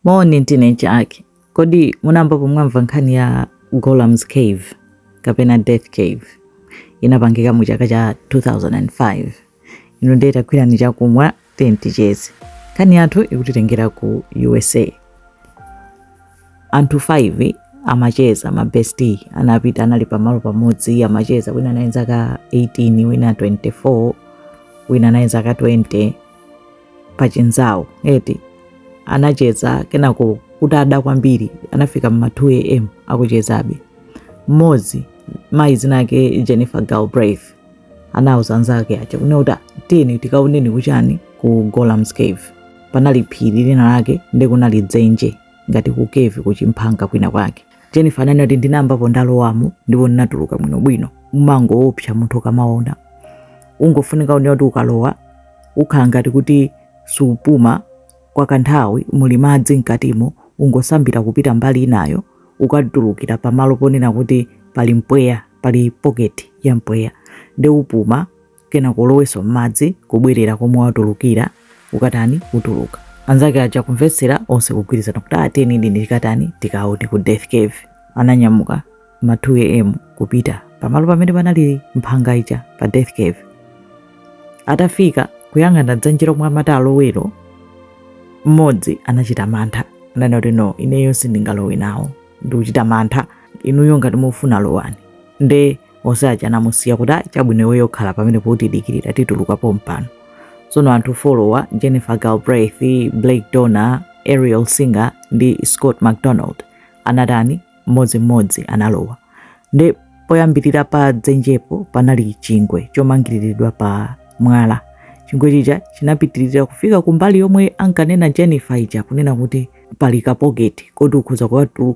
Moni teenager ake. Kodi munayambapo mwamva nkhani ya Golem's Cave kapena Death Cave? Inapangika mu chaka cha 2005. Inu ndiye tagwirani chakumwa tiyeni ticheze. Nkhani yathu ikutitengera ku USA. Anthu 5 amacheza ma bestie anapita anali pamalo pamodzi amacheza wina anali zaka 18 wina 24 wina anali zaka 20 pa chinzawo eti anacheza kenako kutada kwambiri anafika mma 2 am akuchezabe mmodzi mayi dzina lake jennifer galbraith anauza anzake aja kunena kuti tiyeni tikaoneni kuchani ku golem's cave panali phiri lina lake ndi kunali dzenje ngati ku cave kuchimphanga kwina kwake Jennifer ananena kuti ndinayambapo ndalowamo ndipo ndinatuluka bwinobwino. Umangoopsa munthu ukamaona, ungofunika kuti ukalowa ukhala ngati kuti supuma kwa kanthawi, muli madzi mkatimo, ungosambira kupita mbali inayo, ukatulukira pamalo ponena kuti pali mpweya, pali poketi ya mpweya nde upuma. kenako kulowanso m'madzi kubwerera komwe watulukira ukatani utuluka anzake aja kumvetsera onse kugwirizana kuti tiyeni tikatani tikaone ku death cave ananyamuka ma 2 am kupita pamalo pamene panali mphanga ija pa death cave atafika kuyang'ana dzenje lomwe amati alowero mmodzi anachita mantha ananena kuti no ineyo sindingalowe nawo ndikuchita mantha inuyo ngati mufuna lowani nde onse aja anamusiya kuti ayi chabwino iweyo khala pamenepo tidikirira tituluka pompano tsono anthu 4 awa jennifer galbraith blake donner ariel singer ndi scott mcdonald anatani mmodzimmodzi analowa nde poyambirira pa dzenjepo panali chingwe chomangiriridwa pa mwala chingwe chija chinapitirira kufika kumbali yomwe ankanena jennifer ija kunena kuti pali kapoketi koti ukhoza kuwatu-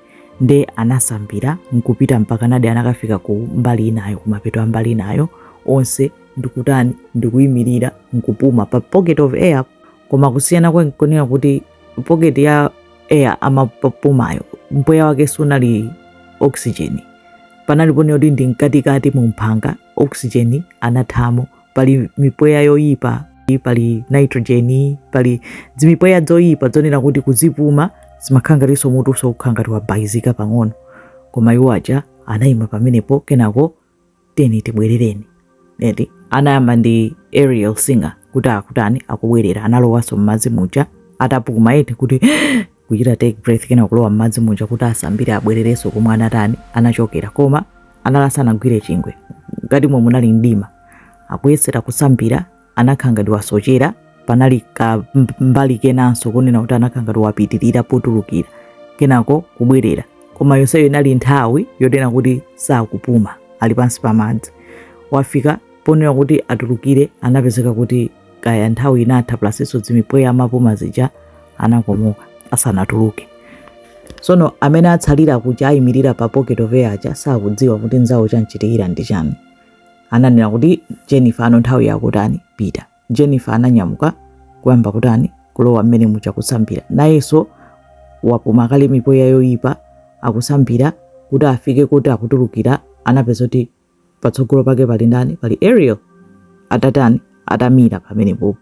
nde anasambira nkupita mpakanadi anakafika ku mbali inayo kumapeto a mbali inayo onse ndikutani ndikuyimirira nkupuma pa pocket of air koma kusiyana kwake nkonena kuti pocket ya air amapumayo mpweya wake sunali oxygen panali ponena kuti ndi mkatikati mu mphanga oxygen anathamo pali mipweya yoyipa pali nitrogen pali dzimipweya dzoyipa dzonena kuti kuzipuma zimakhala ngatinso mutu ukukhala ngati wabayizika pang'ono koma iwo aja anayima pamenepo kenako tiyeni tibwerereni eti anayamba ndi ariel singer kuti akutani akubwerera analowanso m'madzi muja atapuma eti kuti kuchita take breath kenako kulowa m'madzi muja kuti asambire abwererenso komwe anatani anachokera koma anali asanagwire chingwe ngati mwe munali mdima akuyesera kusambira anakhala ngati wasochera panali ka mbali kenanso kunena kuti anakhala ngati wapitirira potulukira kenako kubwerera koma yonseyo inali nthawi yonena kuti sakupuma ali pansi pa madzi wafika ponena kuti atulukire anapezeka kuti kaya nthawi inatha plusnso dzimipweya amapuma zija anakomoka asanatuluke sono amene atsala kuja ayimirira pa pocket of air aja sakudziwa kuti nzawo chamuchitikira ndi chani ananena kuti jennifer pano nthawi yakutani pita jennifer ananyamuka kuyamba kutani kulowa mmene muja kusambira nayenso wapuma kale mipweya yoyipa akusambira kuti afike kotulukira anapeza kuti patsogolo pake pali ndani pali ariel atatani atamira pamenepopo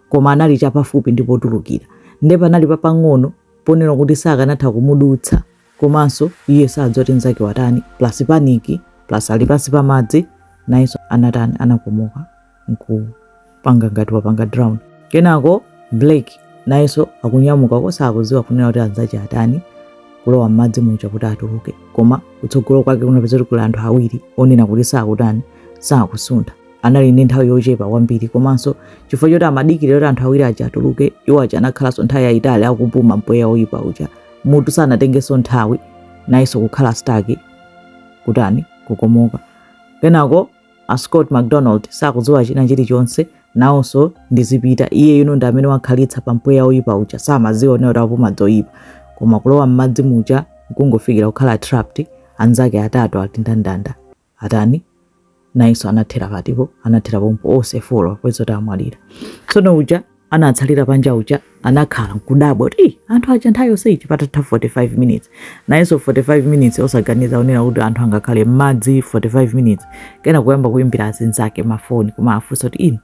koma anali chapafupi ndi potulukira nde panali papang'ono ponena kuti sakanatha kumudutsa komanso iye sadziwa kuti mzake watani plus paniki plus ali pansi pa madzi nayenso anatani anakomoka nkupanga ngati wapanga drown kenako blake nayenso akunyamuka osakudziwa kunena kuti anzache atani kulowa m'madzi muja kuti atuluke koma kutsogolo kwake anapeza kuti kuli anthu awiri onena kuti sakutani sakusuntha anali ndi nthawi yochepa kwambiri komanso chifukwa choti amadikirira kuti anthu awiri aja atuluke iwo aja anakhalanso nthawi yayitali akupuma mpweya woyipa uja mutu sanatengenso nthawi nayenso kukhala staki kutani kukomoka kenako a Scott McDonald sakudziwa china chilichonse nawonso ndizipita iye uyu ndi amene wakhalitsa pa mpweya woyipa uja samadziwa kuti akupuma zoyipa koma kulowa m'madzi muja kungofikira kukhala trapped anzake atatu ati ndanda ndanda atani nayenso anathera pati anathera pompo onse folo kupeza kuti amwalira tsono uja anatsalira panja uja anakhala nkudabwa kuti "Ih, anthu aja nthawi yonseyi patatha 45 minutes nayenso 45 minutes osaganiza kunena kuti anthu angakhale m'madzi 45 minutes kenako kuyamba kuyimbira azinzake mafoni kumawafunsa kuti inu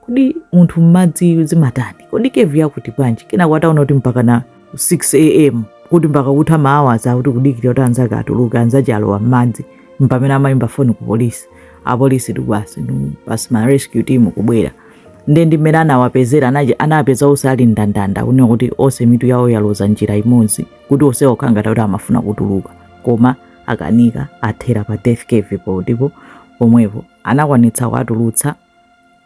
kodi munthu m'madzi zimatani kodi kevu yakuti bwanji kenako ataona kuti mpaka na 6 am kuti mpaka kutha maawaza kuti kudikira kuti anzake atuluke anzache alowa m'madzi mpamene amayimba foni ku polisi apolisi tikubasi basi ma rescue team kubwera nde ndi mmene anawapezera anapeza onse ali ndandanda kunena kuti onse mitu yawo yaloza njira imodzi kuti onse akhala ngati kuti amafuna kutuluka koma akanika athera pa death cave po ndipo pomwepo anakwanitsa kuwatulutsa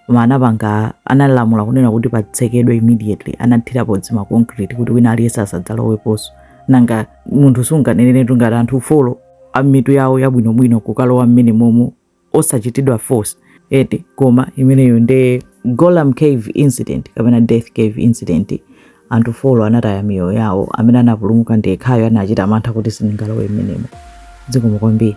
koma anapanga analamula kunena kuti patsekedwe immediately anathirapo zima concrete kuti wina aliyense asadzaloweponso nanga munthu sunganeneretu ngati anthu folo amitu yawo yabwinobwino kukalowa mmene momo osachitidwa force eti koma imeneyo ndi Golam Cave incident kapena Death Cave incident anthu folo anataya miyoyo yawo amene anapulumuka ndi yekhayo anachita mantha kuti sindingalowe mmenemo zikomo kwambiri